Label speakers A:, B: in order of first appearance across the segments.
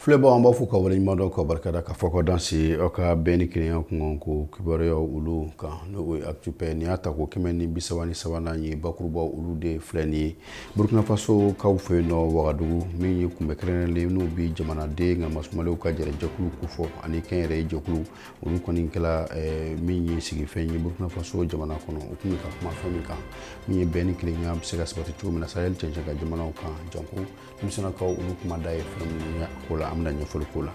A: Filɛbaw an b'aw fo k'aw waleɲumandɔn ka barikada ka fo ka danse aw ka bɛn ni kelenya kunko kibaruya olu kan n'o ye Actu Paix nin y'a tako kɛmɛ ni bi saba ni sabanan ye bakurubaw olu de filɛ nin ye burukinafasokaw fɛ yen nɔ wagadugu min ye kunbɛ kɛrɛnkɛrɛnnen n'u bɛ jamanaden nka masumaw ka jɛkulu kofɔ ani kɛnyɛrɛye jɛkulu olu kɔni kɛla eh, min ye sigifɛn ye burukinafaso jamana kɔnɔ u tun ka kuma fɛn min kan min ye bɛn ni kelenya bɛ se ka sabati cogo min na saheli cɛncɛn kan jamanaw kan janko denmisɛnnakaw olu kuma da ye fɛn minnu ko la an bɛna ɲɛfɔli k'o la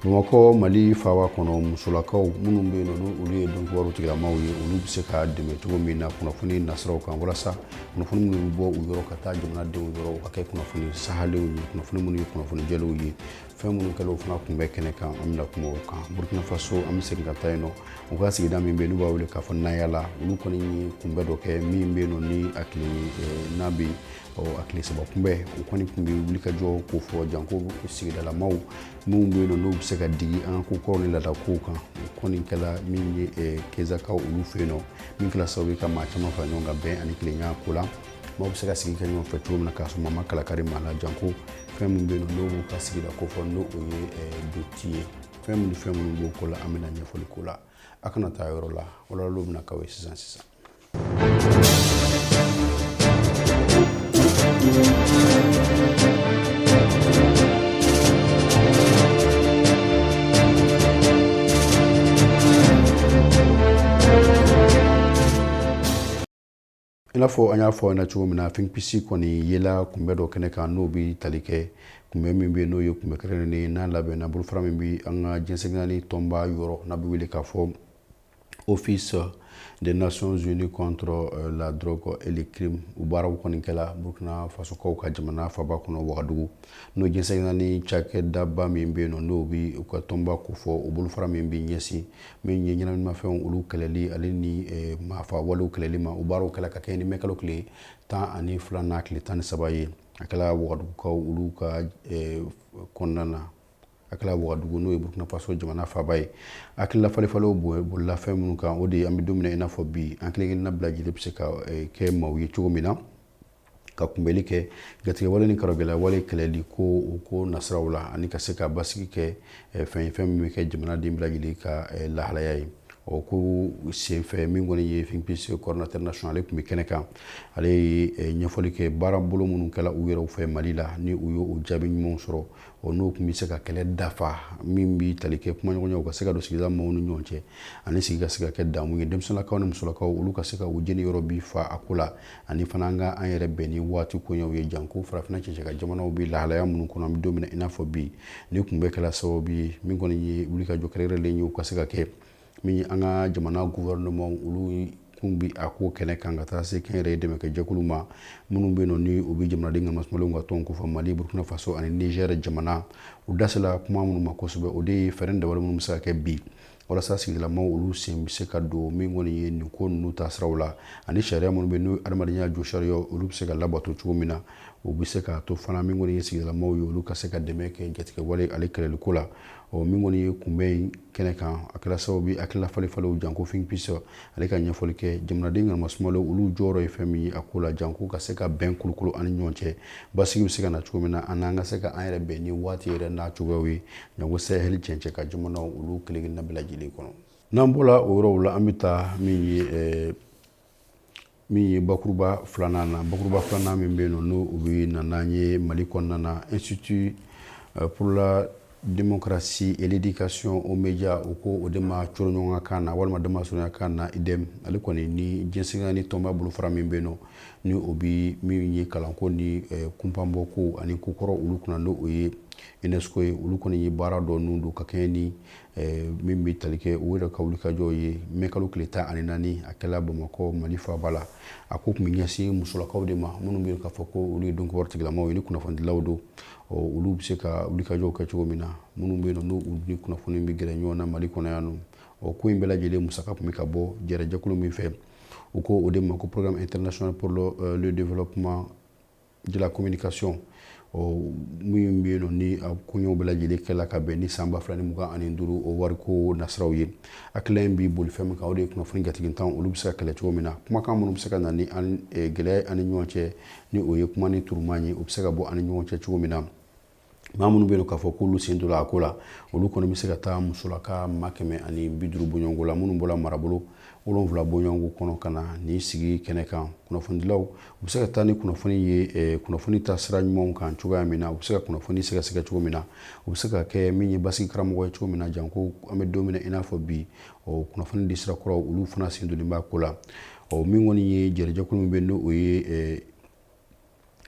A: bamakɔ mali faba kɔnɔ musolakaw minnu bɛ yen nɔ olu ye dɔnkibaru tigilamaw ye olu bɛ se ka dɛmɛ cogo min na kunnafoni nasiraw kan walasa kunnafoni minnu bɛ bɔ u yɔrɔ ka taa jamanadenw yɔrɔ u ka kɛ kunnafoni sahalenw ye kunnafoni minnu ye kunnafoni jɛlenw ye fɛn minnu kɛlen o fana tun bɛ kɛnɛ kan an bɛna kuma o kan burkina faso an bɛ segin ka taa yen nɔ u ka sigida min bɛ yen n'u b'a wele k'a fɔ nayala olu kɔni ye kunbɛ dɔ kɛ min bɛ yen nɔ ni a kelen ye n'a bɛ ɔ a tile saba kunbɛ o kɔni tun bɛ wulikajɔ kofɔ janko sigidalamaw minnu bɛ yen nɔ n'u bɛ se ka digi an ka kokɔrɔ ni laadakow kan o kɔni kɛla min ye eh, kezakaw olu fɛ yen nɔ min kɛla sababu ye ka maa caman fara ɲɔgɔn kan bɛn ani kelenya ko la maaw bɛ se ka sigi kɛ ɲɔgɔn fɛ cogo min na k'a sɔrɔ maa ma kalakari maa la janko fɛn min bɛ yen nɔ n'o b'u ka sigida kofɔ n'o o ye eh, doti ye fɛn minnu fɛn minnu b'o ko la an bɛna ɲɛfɔli k'o la aw kana taa yɔrɔ la walawalaw bɛna k'aw ye sisan sisan i n'a fɔ an y'a fɔ na cogo min na FINPIS kɔni yela kunbɛ dɔ kɛnɛ kan n'o bɛ tali kɛ kunbɛ min bɛ n'o ye kunbɛ kɛrɛnkɛrɛnnen n'a labɛnna bolofara min bɛ an ka diɲɛ seleke naani tɔnba yɔrɔ n'a bɛ wele k'a fɔ office des Nations Unies contre euh, la drogue et le crime u baaraw kɔni kɛla Burkina Fasokaw ka jamana faba kɔnɔ Wagadugu n'o diɲɛ seleke naani cakɛdaba min bɛ yen nɔ n'o bi u ka tɔnba kofɔ o bolofara min bɛ ɲɛsin min ye ɲɛnaminimafɛnw olu kɛlɛli ale ni eh, maafa walew kɛlɛli ma u baaraw kɛla ka kɛɲɛ ni mɛkalo tile tan ani fila n'a tile tan ni saba ye a kɛla Wagadugukaw olu ka eh, kɔnɔna na a kɛla wagadugu n'o ye burkina faso jamana faba ye a hakilila falenfalenw bolila fɛn minnu kan o de ye an bɛ don min na i n'a fɔ bi an kelenkelenna bɛɛ lajɛlen bɛ se ka eh, kɛ maaw ye cogo min na ka kunbɛli kɛ jatigɛwale ni karɔgɛlawale kɛlɛli ko o ko nasiraw la ani ka se ka basigi kɛ eh, fɛn ye fɛn min bɛ kɛ jamanaden bɛɛ lajɛlen ka eh, lahalaya ye o ko senfɛ min kɔni ye FINPIS coordinateur national ale tun bɛ kɛnɛ kan ale ye ɲɛfɔli kɛ baara bolo minnu kɛla u yɛrɛw fɛ mali la ni u y'o jaabi ɲumanw sɔrɔ o n'o tun bɛ se ka kɛlɛ dafa min bɛ tali kɛ kumaɲɔgɔnyaw ka se ka don sigida maaw ni ɲɔgɔn cɛ ani sigi ka se ka kɛ damu ye denmisɛnninlakaw ni musolakaw olu ka se ka u jeni yɔrɔ bi fa a ko la ani fana an ka an yɛrɛ bɛn ni waati koɲɛw ye janko farafinna cɛncɛn ka jamanaw bɛ lahalaya minnu kɔnɔ an bɛ don min na i n'a fɔ bi nin kunbɛn kɛla sababu ye min kɔni ye wulikajɔ kɛrɛnkɛrɛnlen ye u ka se ka kɛ min an ka jamana gouvernement olu kun bi a ko kɛnɛ kan ka taa se kɛnyɛrɛye dɛmɛ kɛ jɛkulu ma minnu bɛ nɔ ni u bɛ jamanaden ka masumalenw ka tɔn kofɔ mali burkina faso ani niger jamana u da sela kuma minnu ma kosɛbɛ o de ye fɛɛrɛ dabali minnu bɛ se ka kɛ bi walasa sigidalamaw olu sen bɛ se ka don min kɔni ye nin ko ninnu ta siraw la ani sariya minnu bɛ n'o adamadenya josariya olu bɛ se ka labato cogo min na u bɛ se ka to fana min kɔni ye sigidalamaw ye olu ka se ka dɛmɛ kɛ jatigɛwale ale kɛlɛliko la ɔ min kɔni ye kunbɛn in kɛnɛ kan a kɛla sababu ye hakilila falenfalenw janko think peace ale ka ɲɛfɔli kɛ jamanaden ka masumalenw olu jɔyɔrɔ ye fɛn min ye a ko la janko ka se ka bɛn kulukulu an ni ɲɔgɔn cɛ basigi bɛ se ka na cogo min na an n'an ka se ka an yɛrɛ bɛn ni waati yɛrɛ n'a cogoyaw ye janko sahɛli cɛncɛn ka jamanaw olu kelen-kelen na bɛɛ lajɛlen kɔnɔ n'an bɔra o yɔrɔw la an bɛ taa min ye min ye bakuruba filanan na bakuruba filanan min bɛ yen n'o u bɛ na n'an ye mali kɔnɔna na institut euh, pour la démocratie et l'éducation aux médias u ko o de ma coroɲɔgɔnka kan na walima damasurunya kan na idem ale kɔni ni diɲɛ seleke naani tɔnba bolofara min bɛ yen nɔ ni o bɛ min ye kalanko ni euh, kunpanbɔko ani kokɔrɔ olu kunna n'o o ye unesco ye olu kɔni ye baara dɔ ninnu don ka kɛɲɛ ni euh, min bɛ tali kɛ u yɛrɛ ka wulikajɔ ye mɛ kalo tile tan ani naani a kɛla bamakɔ mali faaba la a ko tun bɛ ɲɛsin musolakaw de ma minnu bɛ k'a fɔ ko olu ye dɔnko tigilamaw ye kunnafonidilaw don olu bɛ se ka wulikajɔw kɛ cogo min na minnu bɛ nɔ n'u ni kunnafoni bɛ gɛrɛ ɲɔgɔn na mali kɔnɔ yan nɔ ɔ ko in bɛɛ lajɛlen musaka tun bɛ ka bɔ jɛkulu min fɛ u ko o de ma ko programme international pour le développement de la communication min bɛ yen ni ko ɲɔgɔnw bɛɛ lajɛlen kɛla ka bɛn ni san ba fila ni mugan ani duuru o wari ko nasiraw ye hakilila in b'i boli fɛn min kan o de ye kunnafoni jatigitan olu bɛ se ka kɛlɛ cogo min na kumakan minnu bɛ se ka na ni gɛlɛya an ni ɲɔgɔn cɛ ni o ye kuma ni turuma ye o bɛ se ka bɔ an ni ɲɔgɔn cɛ cogo min na maa minnu bɛ yen k'a fɔ k'olu sen donna a ko la olu kɔni bɛ se ka taa musolaka maa kɛmɛ ani bi duuru bɔɲɔgɔnko la minnu bɔra marabolo wolonwula bɔɲɔgɔnko kɔnɔ ka na nin sigi kɛnɛ kan kunnafonidilaw u bɛ se ka taa ni kunnafoni ye eh, kunnafoni ta sira ɲumanw kan cogoya min na u bɛ se ka kunnafoni sɛgɛsɛgɛ cogo min na u bɛ se ka kɛ min ye basigi karamɔgɔ ye cogo min na janko an bɛ don min na i n'a fɔ bi o kunnafoni di sira kuraw olu fana sen donlen b'a ko la ɔ min kɔni ye jɛrɛjɛkulu min bɛ n'o o ye eh,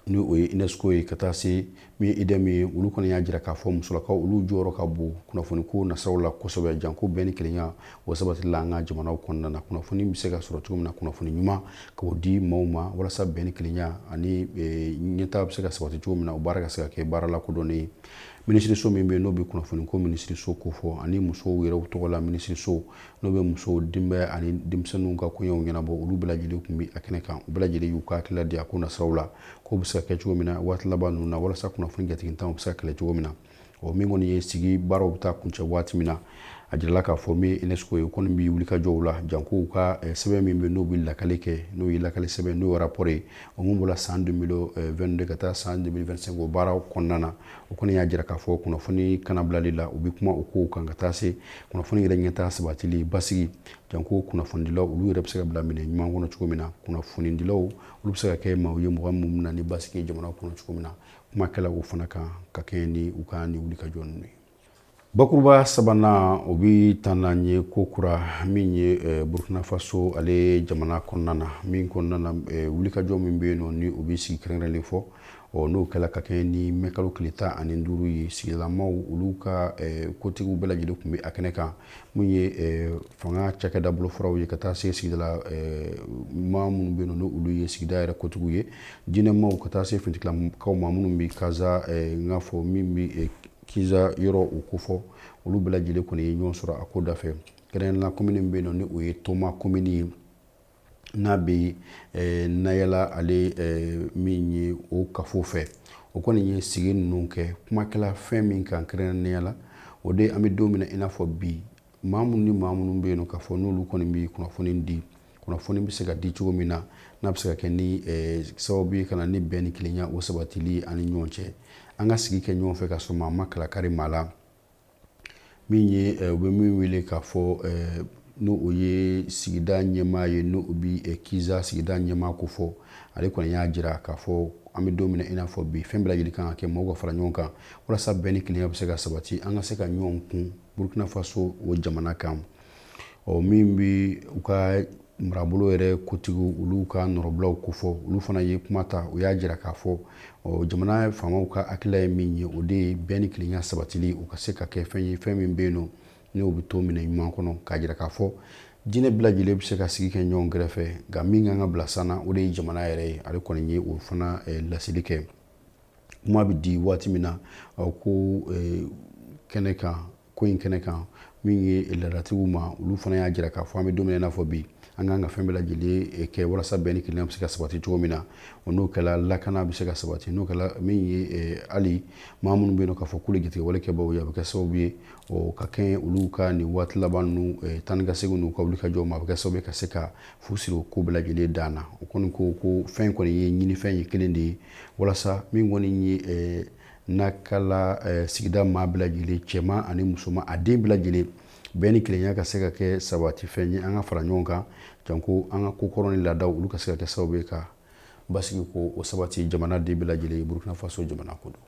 A: ni o ye unesco ye ka taa se min ye idem ye olu kɔni y'a jira k'a fɔ musolakaw olu jɔyɔrɔ ka bon kunnafoni ko nasiraw la kosɛbɛ janko bɛn ni kelenya o sabatili la an ka jamanaw kɔnɔna na kunnafoni bɛ se ka sɔrɔ cogo min na kunnafoni ɲuman k'o di maaw ma walasa bɛn ni kelenya ani e, ɲɛtaa bɛ se ka sabati cogo min na o baara ka se ka kɛ baara lakodɔnnen ye minisiriso min bɛ yen n'o bɛ kunnafoni ko minisiriso ko fɔ ani musow yɛrɛ tɔgɔ la minisiriso n'o bɛ musow denbaya ani denmisɛnninw ka koɲɛw ɲɛnabɔ olu bɛɛ lajɛlen tun bɛ a kɛnɛ kan u bɛɛ lajɛlen y'u ka hakilila di a ko nasiraw la k'o bɛ se ka kɛ cogo min na waati laban ninnu na walasa kunnafoni jatigitanw bɛ se ka kɛlɛ cogo min na o min kɔni ye sigi baaraw bɛ taa kuncɛ waati min na a jirala k'a fɔ min ye UNESCO ye o kɔni bɛ wulikajɔw la janko u ka eh, sɛbɛn min bɛ n'o bɛ lakali kɛ n'o ye lakali sɛbɛn n'o ye rapport ye o min bɔra san 2022 eh, ka taa san 2025 o baaraw kɔnɔna na o kɔni y'a jira k'a fɔ kunnafoni kanabilali la u bɛ kuma o kow kan ka taa se kunnafoni yɛrɛ ɲɛtaa sabatili basigi janko kunnafonidilaw olu yɛrɛ bɛ se ka bila minɛ ɲuman kɔnɔ cogo min na kunnafonidilaw olu bɛ se ka kɛ maaw ye mɔgɔ minnu bɛ na ni basigi ye jamana kɔnɔ cogo min na kuma kɛla o fana kan ka kɛɲɛ ni u ka ni wulikajɔ ninnu ye bakuruba sabanan o bɛ taa n'an ye ko kura min ye eh, burkina faso ale jamana kɔnɔna na min kɔnɔna na eh, wulikajɔ min bɛ yen nɔ ni o bɛ sigi kɛrɛnkɛrɛnlen fɔ ɔ n'o kɛla ka kɛɲɛ ni mɛ kalo tile tan ani duuru ye sigidalamaw olu ka eh, kotigiw bɛɛ lajɛlen tun bɛ a kɛnɛ kan min ye eh, fanga cakɛda bolofaraw ye ka taa se sigidala eh, maa minnu bɛ yen n'olu ye sigida yɛrɛ kotigiw ye diinɛmaaw ka taa se finitigilakaw ma minnu bɛ kaza n k'a fɔ min bɛ kiza yɔrɔ o ko fɔ olu bɛɛ lajɛlen kɔni ye ɲɔgɔn sɔrɔ a ko da fɛ kɛrɛnkɛrɛnnenya komini bɛ yen nɔ ni o ye toma komini ye n'a bɛ nayala ale min ye o kafo fɛ o kɔni ye sigi ninnu kɛ kuma kɛla fɛn min kan kɛrɛnkɛrɛnnenya la o de an bɛ don min na i n'a fɔ bi maa minnu ni maa minnu bɛ yen k'a fɔ n'olu kɔni bɛ kunnafoni di kunnafoni bɛ se ka di cogo min na n'a bɛ se ka kɛ ni sababu ye ka na ni bɛn ni kelenya o sabatili an ni ɲɔgɔn cɛ an ka sigi kɛ ɲɔgɔn fɛ ka sɔrɔ maa ma kalakari maa la min ye u bɛ min wele k'a fɔ n'o o ye sigida ɲɛmaa ye n'o o bɛ kiza sigida ɲɛmaa ko fɔ ale kɔni y'a jira k'a fɔ an bɛ don min na i n'a fɔ bi fɛn bɛɛ lajɛlen kan ka kɛ maaw ka fara ɲɔgɔn kan walasa bɛn ni kelenya bɛ se ka sabati an ka se ka ɲɔgɔn kun burkina faso o jamana kan ɔ min bɛ u ka marabolo yɛrɛ kotigiw olu ka nɔrɔbila ko fɔ olu fana ye kuma ta u y'a jira k'a fɔ jamana faamaw ka hakilila ye min ye o de ye bɛn ni kelenya sabatili u ka se ka kɛ fɛn ye fɛn min bɛ yen nɔ n'o bɛ to minɛ ɲuman kɔnɔ k'a jira k'a fɔ diinɛ bɛɛ lajɛlen bɛ se ka sigi kɛ ɲɔgɔn kɛrɛfɛ nka min kan ka bila sanna o de ye jamana yɛrɛ ye ale kɔni ye o fana laseli kɛ kuma bɛ di waati min na ko kɛnɛ kan ko in kɛnɛ kan min ye laadatigiw ma olu fana y'a jira k'a fɔ an bɛ don min na i n'a fɔ bi an kan ka fɛn bɛɛ lajɛlen eh, kɛ walasa bɛn ni kelenya bɛ se ka sabati cogo min na o n'o kɛla lakana bɛ se ka sabati n'o kɛla min ye eh, hali maa minnu bɛ yen nɔ k'a fɔ k'olu jatigɛwalekɛbaaw ye a bɛ kɛ sababu ye o ka kɛɲɛ olu ka nin waati laban ninnu eh, tan ni ka segin n'u ka wulikajɔ ma a bɛ kɛ sababu ye ka se ka fu siri o ko bɛɛ lajɛlen dan na o kɔni ko ko fɛn kɔni ye ɲinifɛn ye kelen de ye walasa min kɔni ye n'a kala eh, sigida maa bɛɛ lajɛlen cɛman ani musoman a den bɛɛ lajɛlen bɛn ni kelenya ka se ka kɛ sabatifɛn ye an ka fara ɲɔgɔn kan janko an ka kokɔrɔ ni laadaw olu ka se ka kɛ sababu ye ka basigi ko o sabati jamana den bɛɛ lajɛlen burkina faso jamana ko don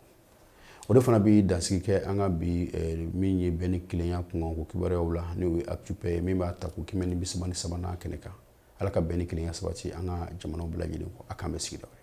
A: o de fana bɛ dansigi kɛ an ka bi eh, min ye bɛn ni kelenya kunkanko kibaruyaw la n'o ye actupɛ ye min b'a tako kɛmɛ ni bisaba ni sabanan kɛnɛ kan ala ka bɛn ni kelenya sabati an ka jamanaw bɛɛ lajɛlen kɔnɔ k'an bɛn sigida wɛrɛ